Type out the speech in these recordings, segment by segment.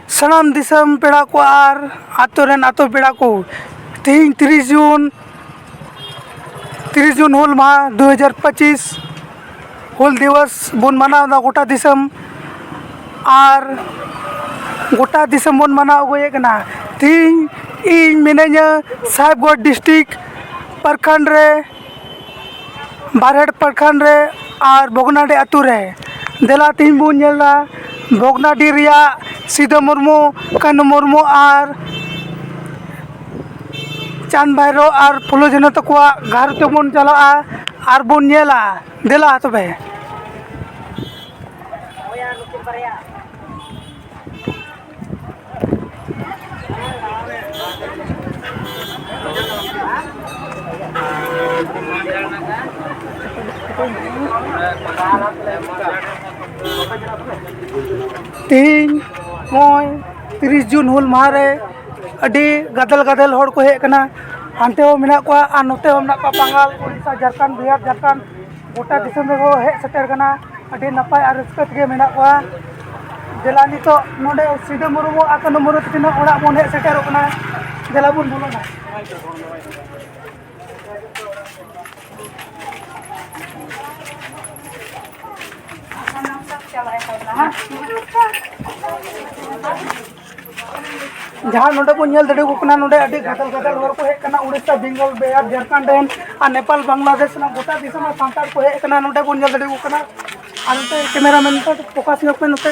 ᱥᱟᱱᱟᱢ ᱫᱤᱥᱚᱢ ᱯᱮᱲᱟ ᱠᱚ ᱟᱨ ᱟᱛᱳ ᱨᱮᱱ ᱟᱛᱳ ᱯᱮᱲᱟ ᱠᱚ ᱛᱮᱦᱮᱧ ᱛᱤᱨᱤᱥ ᱡᱩᱱ ᱛᱤᱨᱤᱥ ᱡᱩᱱ ᱦᱩᱞ ᱢᱟᱦᱟ ᱫᱩ ᱦᱟᱡᱟᱨ ᱯᱚᱸᱪᱤᱥ ᱦᱩᱞ ᱫᱤᱵᱚᱥ ᱵᱚᱱ ᱢᱟᱱᱟᱣᱫᱟ ᱜᱳᱴᱟ ᱫᱤᱥᱚᱢ ᱟᱨ ᱜᱳᱴᱟ ᱫᱤᱥᱚᱢ ᱵᱚᱱ ᱢᱟᱱᱟᱣ ᱟᱹᱜᱩᱭᱮᱫ ᱠᱟᱱᱟ ᱛᱮᱦᱮᱧ ᱤᱧ ᱢᱤᱱᱟᱹᱧᱟ ᱥᱟᱦᱮᱵᱽᱜᱚᱸᱡᱽ ᱰᱤᱥᱴᱤᱠ ᱯᱨᱚᱠᱷᱚᱸᱰ ᱨᱮ ᱵᱟᱨᱦᱮᱲ ᱯᱨᱚᱠᱷᱚᱸᱰ ᱨᱮ ᱟᱨ ᱵᱷᱚᱜᱽᱱᱟᱰᱤ ᱟᱹᱛᱩ ᱨᱮ ᱫᱮᱞᱟ ᱛᱮᱦᱮᱧ ᱵᱚᱱ ᱧᱮᱞᱟ ᱵᱷᱚᱜᱽᱱᱟᱰᱤ ᱨᱮᱭᱟᱜ ᱥᱤᱫᱩ ᱢᱩᱨᱢᱩ ᱠᱟᱹᱱᱦᱩ ᱢᱩᱨᱢᱩ ᱟᱨ ᱪᱟᱸᱫᱽ ᱵᱷᱟᱭᱨᱳ ᱟᱨ ᱯᱷᱩᱞᱳ ᱡᱷᱟᱱᱳ ᱛᱟᱠᱚᱣᱟᱜ ᱜᱟᱨ ᱛᱮᱵᱚᱱ ᱪᱟᱞᱟᱜᱼᱟ ᱟᱨ ᱵᱚᱱ ᱧᱮᱞᱟ ᱫᱮᱞᱟ ᱛᱚᱵᱮ ᱛᱮᱦᱮᱧ ᱱᱚᱜᱼᱚᱭ ᱛᱤᱨᱤᱥ ᱡᱩᱱ ᱦᱩᱞ ᱢᱟᱦᱟ ᱨᱮ ᱟᱹᱰᱤ ᱜᱟᱫᱮᱞ ᱜᱟᱫᱮᱞ ᱦᱚᱲ ᱠᱚ ᱦᱮᱡ ᱠᱟᱱᱟ ᱦᱟᱱᱛᱮ ᱦᱚᱸ ᱢᱮᱱᱟᱜ ᱠᱚᱣᱟ ᱟᱨ ᱱᱚᱛᱮ ᱦᱚᱸ ᱢᱮᱱᱟᱜ ᱠᱚᱣᱟ ᱵᱟᱝᱜᱟᱞ ᱳᱰᱤᱥᱟ ᱡᱷᱟᱲᱠᱷᱚᱸᱰ ᱵᱤᱦᱟᱨ ᱡᱷᱟᱲᱠᱷᱚᱸᱰ ᱜᱚᱴᱟ ᱫᱤᱥᱚᱢ ᱨᱮᱠᱚ ᱦᱮᱡ ᱥᱮᱴᱮᱨ ᱠᱟᱱᱟ ᱟᱹᱰᱤ ᱱᱟᱯᱟᱭ ᱟᱨ ᱨᱟᱹᱥᱠᱟᱹ ᱛᱮᱜᱮ ᱢᱮᱱᱟᱜ ᱠᱚᱣᱟ ᱫᱮᱞᱟ ᱱᱤᱛᱚᱜ ᱱᱚᱰᱮ ᱥᱤᱫᱩ ᱢᱩᱨᱢᱩ ᱟᱨ ᱠᱟᱹᱱᱩ ᱢᱩᱨᱢᱩ ᱛᱟᱹᱠᱤᱱᱟᱜ ᱚᱲᱟᱜ ᱵᱚᱱ ᱦᱮᱡ ᱥᱮᱴᱮᱨᱚᱜ ᱠᱟᱱᱟ ᱫᱮᱞᱟ ᱵᱚᱱ ᱵᱚᱞᱚᱱᱟ ᱡᱟᱦᱟᱸ ᱱᱚᱰᱮ ᱵᱚᱱ ᱧᱮᱞ ᱫᱟᱲᱮᱭᱟᱠᱚ ᱠᱟᱱᱟ ᱱᱚᱰᱮ ᱟᱹᱰᱤ ᱜᱟᱫᱟᱞ ᱜᱟᱫᱟᱞ ᱦᱚᱲ ᱠᱚ ᱦᱮᱡ ᱠᱟᱱᱟ ᱩᱲᱤᱥᱥᱟ ᱵᱮᱝᱜᱚᱞ ᱵᱤᱦᱟᱨ ᱡᱷᱟᱲᱠᱷᱚᱸᱰ ᱨᱮᱱ ᱟᱨ ᱱᱮᱯᱟᱞ ᱵᱟᱝᱞᱟᱫᱮᱥ ᱨᱮᱱᱟᱜ ᱜᱚᱴᱟ ᱫᱤᱥᱚᱢ ᱨᱮᱱ ᱥᱟᱱᱛᱟᱲ ᱠᱚ ᱦᱮᱡ ᱠᱟᱱᱟ ᱱᱚᱰᱮ ᱵᱚᱱ ᱧᱮᱞ ᱫᱟᱲᱮᱭᱟᱠᱚ ᱠᱟᱱᱟ ᱟᱨ ᱱᱚᱛᱮ ᱠᱮᱢᱮᱨᱟ ᱢᱮᱱ ᱱᱚᱛᱮ ᱯᱷᱳᱠᱟᱥ ᱧᱚᱜ ᱯᱮ ᱱᱚᱛᱮ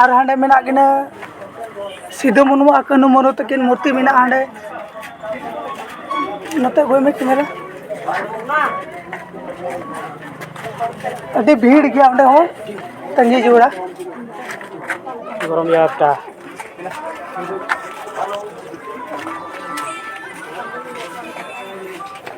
ᱟᱨ ᱦᱟᱸᱰᱮ ᱢᱮᱱᱟᱜ ᱠᱤᱱᱟᱹ ᱥᱤᱫᱩ ᱢᱩᱨᱢᱩ ᱟᱨ ᱠᱟᱹᱱᱦᱩ ᱢᱩᱨᱢᱩ ᱛᱟᱹᱠᱤᱱ ᱢᱩᱨᱛᱤ ᱢᱮᱱᱟᱜᱼᱟ ᱦᱟᱸᱰᱮ ᱱᱚᱛᱮ ᱟᱹᱜᱩᱭ ᱢᱮ ᱠᱮᱢᱮᱨᱟ ᱟᱹᱰᱤ ᱵᱷᱤᱲ ᱜᱮᱭᱟ ᱚᱸᱰᱮ ᱦᱚᱸ ᱛᱟᱺᱜᱤ ᱡᱚᱲᱟ ᱜᱚᱨᱚᱢ ᱜᱮᱭᱟ ᱮᱠᱴᱟ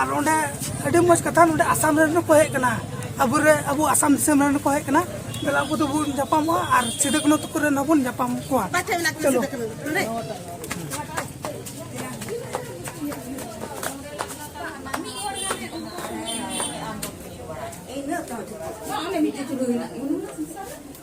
ᱟᱨ ᱱᱚᱰᱮ ᱟᱹᱰᱤ ᱢᱚᱡᱽ ᱠᱟᱛᱷᱟ ᱱᱚᱰᱮ ᱟᱥᱟᱢ ᱨᱮᱱ ᱠᱚ ᱦᱮᱡ ᱠᱟᱱᱟ ᱟᱵᱚ ᱨᱮ ᱟᱵᱚ ᱟᱥᱟᱢ ᱫᱤᱥᱚᱢ ᱨᱮᱱ ᱠᱚ ᱦᱮᱡ ᱠᱟᱱᱟ ᱛᱟᱦᱞᱮ ᱟᱵᱚ ᱫᱚᱵᱚᱱ ᱧᱟᱯᱟᱢᱚᱜᱼᱟ ᱟᱨ ᱥᱤᱫᱩ ᱠᱟᱹᱱᱦᱩ ᱛᱟᱠᱚ ᱨᱮᱱ ᱦᱚᱸᱵᱚᱱ ᱧᱟᱯᱟᱢ ᱠᱚᱣᱟ ᱪᱚᱞᱚ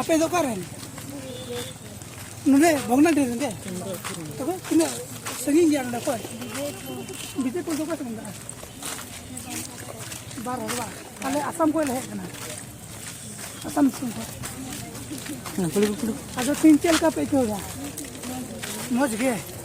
ᱟᱯᱮ ᱫᱚ ᱚᱠᱟᱨᱮᱱ ᱱᱚᱰᱮ ᱵᱷᱚᱜᱽᱱᱟᱰᱤ ᱨᱮᱱ ᱜᱮ ᱛᱚᱵᱮ ᱛᱤᱱᱟᱹᱜ ᱥᱟᱺᱜᱤᱧ ᱜᱮᱭᱟ ᱱᱚᱰᱮ ᱠᱷᱚᱱ ᱵᱤᱡᱮᱯᱩᱨ ᱫᱚ ᱚᱠᱟ ᱥᱮᱫ ᱢᱮᱱᱟᱜᱼᱟ ᱵᱟᱨ ᱦᱚᱲ ᱵᱟᱝ ᱟᱞᱮ ᱟᱥᱟᱢ ᱠᱷᱚᱱ ᱞᱮ ᱦᱮᱡ ᱠᱟᱱᱟ ᱟᱥᱟᱢ ᱫᱤᱥᱚᱢ ᱠᱷᱚᱱ ᱟᱫᱚ ᱛᱤᱱ ᱪᱮᱫ ᱞᱮᱠᱟ ᱯᱮ ᱟᱹᱭᱠᱟᱹᱣ ᱮᱫᱟ ᱢᱚᱡᱽ ᱜᱮ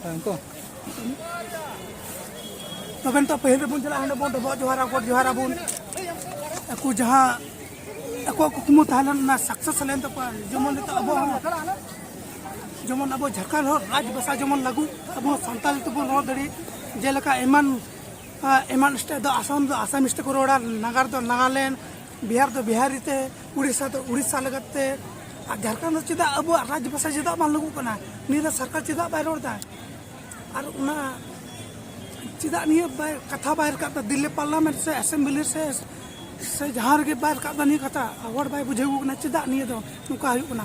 Thank you. ᱛᱚᱵᱮ ᱱᱤᱛᱚᱜ ᱯᱟᱹᱦᱤᱞ ᱨᱮᱵᱚᱱ ᱪᱟᱞᱟᱜᱼᱟ ᱦᱟᱸᱰᱮ ᱵᱚᱱ ᱰᱚᱵᱚᱜ ᱡᱚᱦᱟᱨ ᱟᱵᱚᱱ ᱡᱚᱦᱟᱨ ᱟᱵᱚᱱ ᱟᱠᱚ ᱡᱟᱦᱟᱸ ᱟᱠᱚᱣᱟᱜ ᱠᱩᱠᱢᱩ ᱛᱟᱦᱮᱸ ᱞᱮᱱ ᱚᱱᱟ ᱥᱟᱠᱥᱮᱥ ᱞᱮᱱ ᱛᱟᱠᱚᱣᱟ ᱡᱮᱢᱚᱱ ᱱᱤᱛᱚᱜ ᱟᱵᱚ ᱦᱚᱸ ᱡᱮᱢᱚᱱ ᱟᱵᱚ ᱡᱷᱟᱲᱠᱷᱚᱸᱰ ᱦᱚᱲ ᱨᱟᱡᱽ ᱵᱷᱟᱥᱟ ᱡᱮᱢᱚᱱ ᱞᱟᱹᱜᱩ ᱟᱵᱚ ᱥᱟᱱᱛᱟᱲ ᱛᱮᱵᱚᱱ ᱨᱚᱲ ᱫᱟᱲᱮ ᱡᱮᱞᱮᱠᱟ ᱮᱢᱟᱱ ᱮᱢᱟᱱ ᱥᱴᱮᱴ ᱫᱚ ᱟᱥᱟᱢ ᱫᱚ ᱟᱥᱟᱢᱤᱥ ᱛᱮᱠᱚ ᱨᱚᱲᱟ ᱱᱟᱜᱟᱨ ᱫᱚ ᱱᱟᱜᱟᱞᱮᱱᱰ ᱵᱤᱦᱟᱨ ᱫᱚ ᱵᱤᱦᱟᱨᱤ ᱛᱮ ᱩᱲᱤᱥᱥᱟ ᱫᱚ ᱩᱲᱤᱥᱥᱟ ᱞᱮᱠᱟᱛᱮ ᱟᱨ ᱡᱷᱟᱲᱠᱷᱚᱸᱰ ᱫᱚ ᱪᱮᱫᱟᱜ ᱟᱵᱚᱣᱟᱜ ᱨᱟᱡᱽ ᱵᱷᱟᱥᱟ ᱪᱮᱫᱟᱜ ᱵᱟᱝ ᱞᱟᱹᱜᱩᱜ ᱠᱟᱱᱟ ᱱᱤᱭᱟᱹ ᱫᱚ ᱥᱚᱨᱠᱟᱨ ᱪᱮᱫᱟᱜ ᱵᱟᱭ ᱨᱚᱲ ᱮᱫᱟ ᱟᱨ ᱚᱱᱟ ᱪᱮᱫᱟᱜ ᱱᱤᱭᱟᱹ ᱵᱟᱭ ᱠᱟᱛᱷᱟ ᱵᱟᱭ ᱨᱟᱠᱟᱵ ᱮᱫᱟ ᱫᱤᱞᱞᱤ ᱯᱟᱨᱞᱟᱢᱮᱱᱴ ᱥᱮ ᱮᱥᱮᱢᱵᱞᱤ ᱥᱮ ᱥᱮ ᱡᱟᱦᱟᱸ ᱨᱮᱜᱮ ᱵᱟᱭ ᱨᱟᱠᱟᱵ ᱮᱫᱟ ᱱᱤᱭᱟᱹ ᱠᱟᱛᱷᱟ ᱦᱚᱲ ᱵᱟᱭ ᱵᱩᱡᱷᱟᱹᱣ ᱠᱟᱱᱟ ᱪᱮᱫᱟᱜ ᱱᱤᱭᱟᱹ ᱫᱚ ᱱᱚᱝᱠᱟ ᱦᱩᱭᱩᱜ ᱠᱟᱱᱟ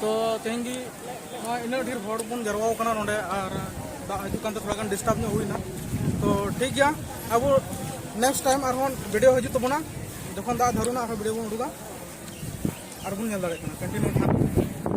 ᱛᱚ ᱛᱮᱦᱮᱧ ᱜᱮ ᱱᱚᱣᱟ ᱤᱱᱟᱹᱜ ᱰᱷᱮᱨ ᱦᱚᱲ ᱵᱚᱱ ᱡᱟᱨᱣᱟᱣ ᱠᱟᱱᱟ ᱱᱚᱰᱮ ᱟᱨ ᱫᱟᱜ ᱦᱤᱡᱩᱜ ᱠᱟᱱᱛᱮ ᱛᱷᱚᱲᱟ ᱜᱟᱱ ᱰᱤᱥᱴᱟᱨᱵ ᱧᱚᱜ ᱦᱩᱭᱱᱟ ᱛᱚ ᱴᱷᱤᱠ ᱜᱮᱭᱟ ᱟᱵᱚ ᱱᱮᱠᱥᱴ ᱴᱟᱭᱤᱢ ᱟᱨᱦᱚᱸ ᱵᱷᱤᱰᱤᱭᱳ ᱦᱤᱡᱩᱜ ᱛᱟᱵᱚᱱᱟ ᱡᱚᱠᱷᱚᱱ ᱫᱟᱜ ᱫᱷᱟᱨᱩᱱᱟ ᱟᱨᱦᱚᱸ ᱵᱷᱤᱰᱤᱭᱳ ᱵᱚᱱ ᱩᱰᱩᱠᱟ ᱟᱨᱵᱚᱱ ᱧᱮᱞ ᱫᱟᱲᱮᱭᱟᱜ ᱠᱟᱱᱟ ᱠᱚᱱᱴᱤᱱᱤᱭᱩ